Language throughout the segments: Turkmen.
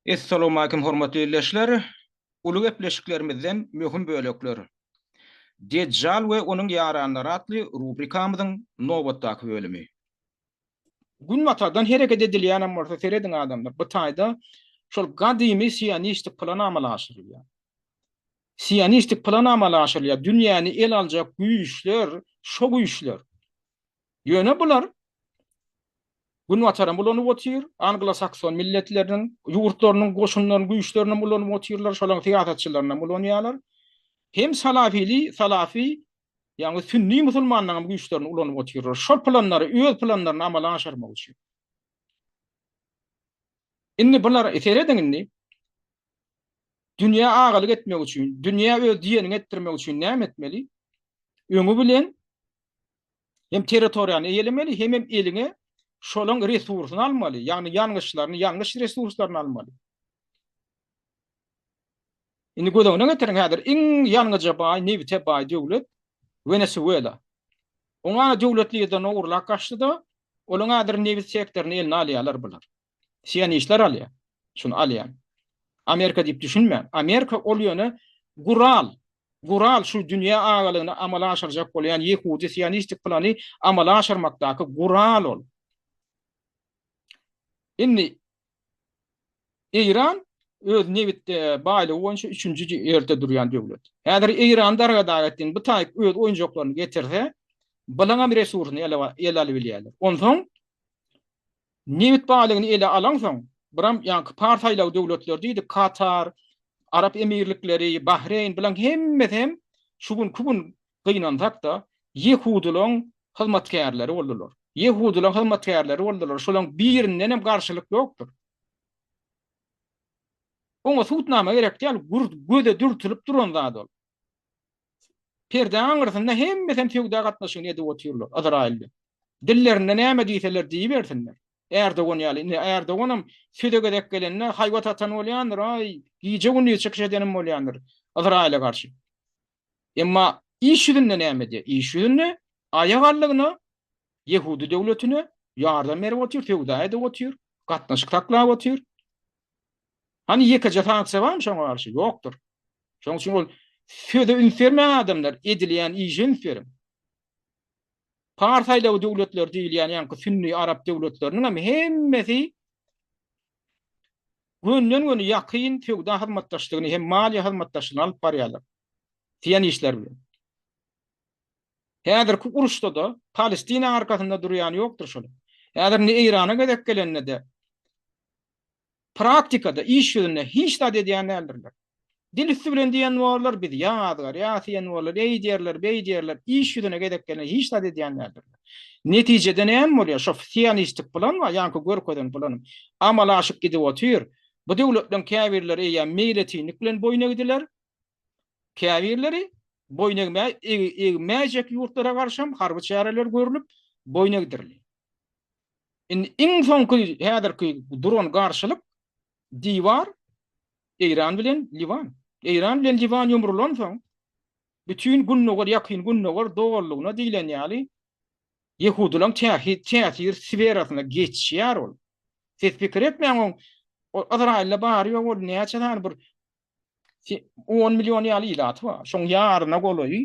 Essalawmalikim hormatly ildeşler! Uly gepleşiklerimizden möhüm bölekler. Dejjal we onuň ýaranlary atly rubrikamyzyň nobatdaky bölümi. Günbatardan hereket edilýänem bolsa serediň adamlar bu taýda şol gadymy sionistik plan amala aşyrylýar. Sionistik plan amala aşyrylýar, dünýäni el aljak güýçler şo güýçler. Ýöne bular Günbataram ulanyp otyr, anglo-sakson milletleriniň ýurtlarynyň goşunlarynyň güýçlerini hem ulanyp otyrlar, şolaryň syýasatçylaryny hem ulanýarlar. Hem salafili, salafy, ýagny sünni musulmanlaryň güýçlerini ulanyp otyrlar. Şol planlary, öz planlaryny amala aşyrmak üçin. Indi bular, serediň indi, dünýä agalyk etmek üçin, dünýä öz diýenini etdirmek üçin näme etmeli? Öňi bilen hem territoriýany eýelemeli, hemem eliňe şolaň resursyny almaly, ýagny ýangyçlaryny, ýangyç resurslaryny almaly. Indi göz öňüne getiriň, häzir iň ýangyja baý, nebite baý döwlet Wenesuela. Oňa döwlet liderini ogurlap gaçdy-da, olaň häzir nebit sektoryny eline alýarlar bular. Sionistler alýar. Şuny alýan. Amerika diýip düşünmäň. Amerika ol ýöne gural. Gural şu dünýä agalygyny amala aşyrjak bolýan ýehudi sionistik plany amala aşyrmakdaky gural ol. Indi Eýran öz nebit baýlygy boýunça üçünji ýerde durýan döwlet. Häzir Eýran darga-dag etdiň, bu taýyp öz oýunjaklaryny getirse, balaňam resursny ele ele alyp bilýärler. Onsoň Nebit baýlygyny ele alaňsoň, buram ýaňky par saýlaw döwletleri diýdik, Katar, Arap Emirlikleri, Bahreýn, bulaň hemmesi hem şu günki gün gynansak-da, ýehudylaň hyzmatkärleri boldular. Ýehudylaň hyzmatkärleri boldular, şolaň birinden hem garşylyk ýokdur. Oňa subutnama gerek däl, göze dürtülip duran zat ol. Perdäň aňyrsynda hemmesem söwda gatnaşygyny edip otyrlar, Yzraýylly. Dillerinde näme diýseler diýibersinler. Ärdogan ýaly. Indi Ärdoganam söze gezek gelende haýbat atan bolýandyr, aý, gije-gündiz çykyş edenim bolýandyr Yzraýyla garşy. Emma iş ýüzünde näme edýär? Iş ýüzünde aýak allygyna ýehudy döwletine ýardam berip otyr, söwda edip otyr, gatnaşyk saklap otyr. Hany ýekeje sanatça barmy şoňa garşy? Ýokdur. Şoň üçin ol söze üns bermäň adamlar, edilýän işe üns beriň. Pars aýlawy döwletleri diýilýän ýaňky sünni arap döwletleriniň hem hemmesi gönden-göni ýakyn söwda hyzmatdaşlygyny hem maliýe hyzmatdaşlygyny alyp barýarlar. Diýen işler bilen. Häzirki uruşda-da Palestina arkasynda durýan ýokdur şol. Häzir indi Eýrana gezek gelende-de Praktikada, iş ýüzünde hiç zat edýän däldirler. Dil üsti bilen diýen borlar, biz ýaň azgarýas diýen borlar, eý diýerler, beý diýerler, iş ýüzüne gezek gelende hiç zat edýän däldirler. Netijede näme bolýar? Şo sionistlik plan bar, ýaňky görkezen planym amala aşyp gidip otyr. Bu döwletleriň käbirleri eýýäm meýletinlik bilen boýun egdiler. Käbirleri boýun egmäý, egmäýjek ýurtlara garşam harby çäreler görlüp, boýun egdirilýär. Indi iň soňky häzirki duran garşylyk diwar Eýran bilen Liwan. Eýran bilen Liwan ýumrulansoň, bütin gündogar, ýakyn gündogar doganlygyna diýlen ýaly ýehudylaryň täsir sferasyna geçýär ol. Siz pikir etmäň, o Ysraýylda bary ýok ol näçe sany bir 10 million ýaly ilaty bar. Şoň ýaryna golaýy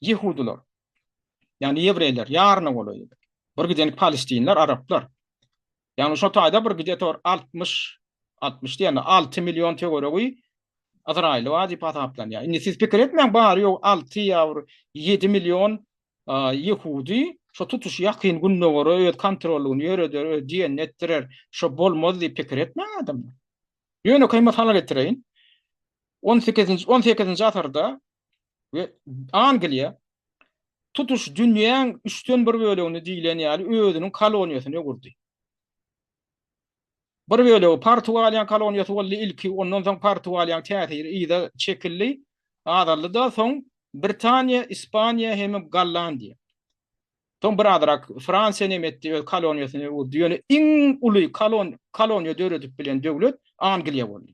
ýehudylar. Ýani ýewreýler ýaryna golaýy. Bir gidenik palestinler, araplar. Ýani şo taýda bir gide tor 60 60 diýende 6 million töweregi Azraýyl bar diýip hasaplanýar. Indi siz pikir etmäň, bary ýok 6 ýawr 7 million ýehudi şo tutuş ýakyn gündogara öz kontrollygyny ýöreder, öz diýenini etdirer. Şo bolmaz diýip pikir etmäň adamlar. Ýönekeý mysal getireýin. On sekizinji, on sekizinji asyrda we Angliýa tutuş dünýäň üçden bir bölegini diýlen ýaly özüniň koloniýasyny gurdy. Bir bölegi Portugaliýanyň koloniýasy boldy ilki, ondan soň Portugaliýanyň täsiri yza çekildi, azaldy-da, soň Britaniýa, Ispaniýa hem-ä Gollandiýa. Soň bir azrak Fransiýa näme etdi, öz koloniýasyny gurdy. Ýöne iň uly kolon koloniýa döredip bilen döwlet Angliýa boldy.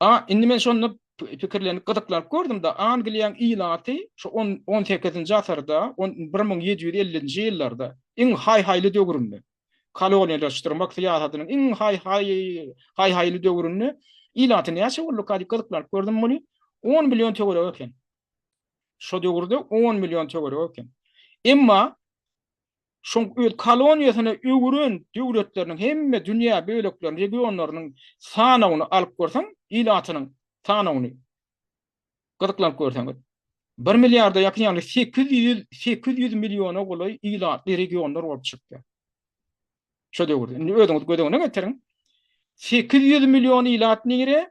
A, indi men şonda pikirlenip, gyzyklanyp gördüm-de, Angliýanyň ilaty şu on on sekizinji asyrda, on bir müň ýedi ýüz ellinji ýyllarda, iň haý-haýly döwründe, koloniýalaşdyrmak syýasatynyň iň haý-haý haý-haýly döwründe ilaty näçe bolduka diýip gyzyklanyp gördüm muny, on million töweregi eken. Şo döwürde 10 million töweregi eken. Emma şoň öz koloniýasyna öwren döwletleriniň hemme dünýä bölekleriniň, regionlarynyň sanawyny alyp görseň, ilatynyň sanawyny gyzyklanyp görseňiz, 1 milliarda ýakyn, ýagny 800 800 milliona golaý ilatly regionlar bolup çykýar. Şo döwürde. Indi özüňiz göz öňüne getiriň. 800 million ilat nire?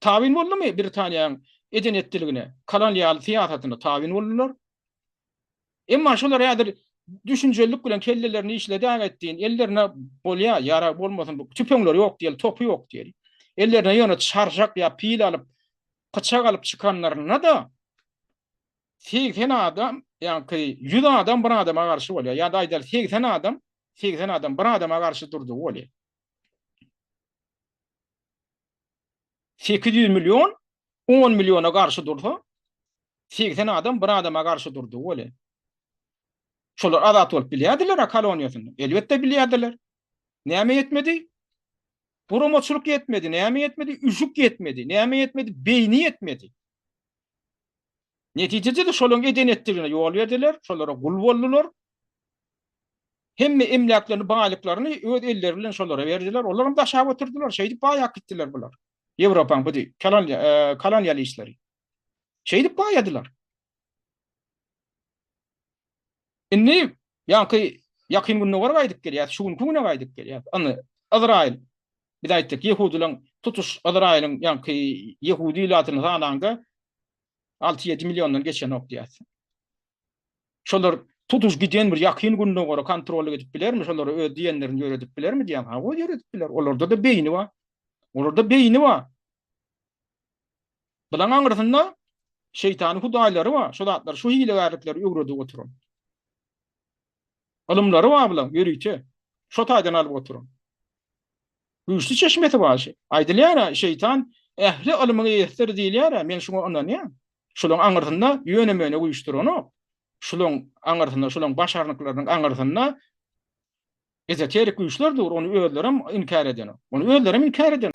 Tabyn boldumy Britaniýaň eden-etdiligine, kolonial syýasatyna tabyn boldular. Emma şolar häzir düşünjelilik bilen kellelerini işledäň etdiň, ellerine bolýa, ýarag bolmasyn, tüpeňleri ýok diýeli, topy ýok diýeli. Ellerine ýöne çarşak ýa pil alyp, pyçak alyp çykanlarynda-da, segsen adam, ýaňky ýüz adam bir adama garşy bolýa, ýa-da aýdaly segsen adam, segsen adam bir adama garşy durdy bolýa. sekiz ýüz million on milliona garşy dursa, segsen adam bir adama garşy durdy weli. Şolar azat bolup bilýärdiler-ä koloniýasynda. Elbetde bilýärdiler. Näme ýetmedi? Guramaçylyk ýetmedi. Näme ýetmedi? Üşük ýetmedi. Näme ýetmedi? Beýni ýetmedi. Netijede-de şolaryň eden-etdigine ýol berdiler, şolara gul boldular. Hemme emläklerini, baýlyklaryny öz elleri bilen şolara berdiler. Olar hem daşap oturdylar. Şeýdip baýap gitdiler bular. Ýewropaň bu kolonialistleri. Şeýdip baýadylar. Indi ýaňky ýakyn gündogara gaýdyp gelýär, şu günki güne gaýdyp gelýär. Indi Izrail biz aýtdyk, ýehudylaryň tutuş Izrailiň ýaňky ýehudi ilatyny sanaňda 6-7 milliondan geçenok diýýärsiň. Şolar tutuş giden bir ýakyn gündogara kontrollyk edip bilermi? Şolara öz diýenlerini ýöredip bilermi diýýän. Hawa, ýöredip biler. Olarda-da beýni bar. Olarda beýni bar. Bulaň aňrysynda şeýtanyň hudaýlary bar. Şol zatlar, şu hilegärlikleri öwredip oturan. Ylymlary bar bulaň ýörite. Şo taýdan alyp oturyň. Güýçli çeşmesi bar şe. Aýdylýar-a, şeýtan ähli ylmyň eýesidir diýilýär-ä, men şuňa ynanýan. Şulaň aňyrsynda ýöne-möne güýç duranok. Şulaň aňyrsynda, şulaň başarnyklarynyň aňyrsynda ezoterik güýçler dur, ony özlerem inkär edenok. Ony özlerem inkär edenok.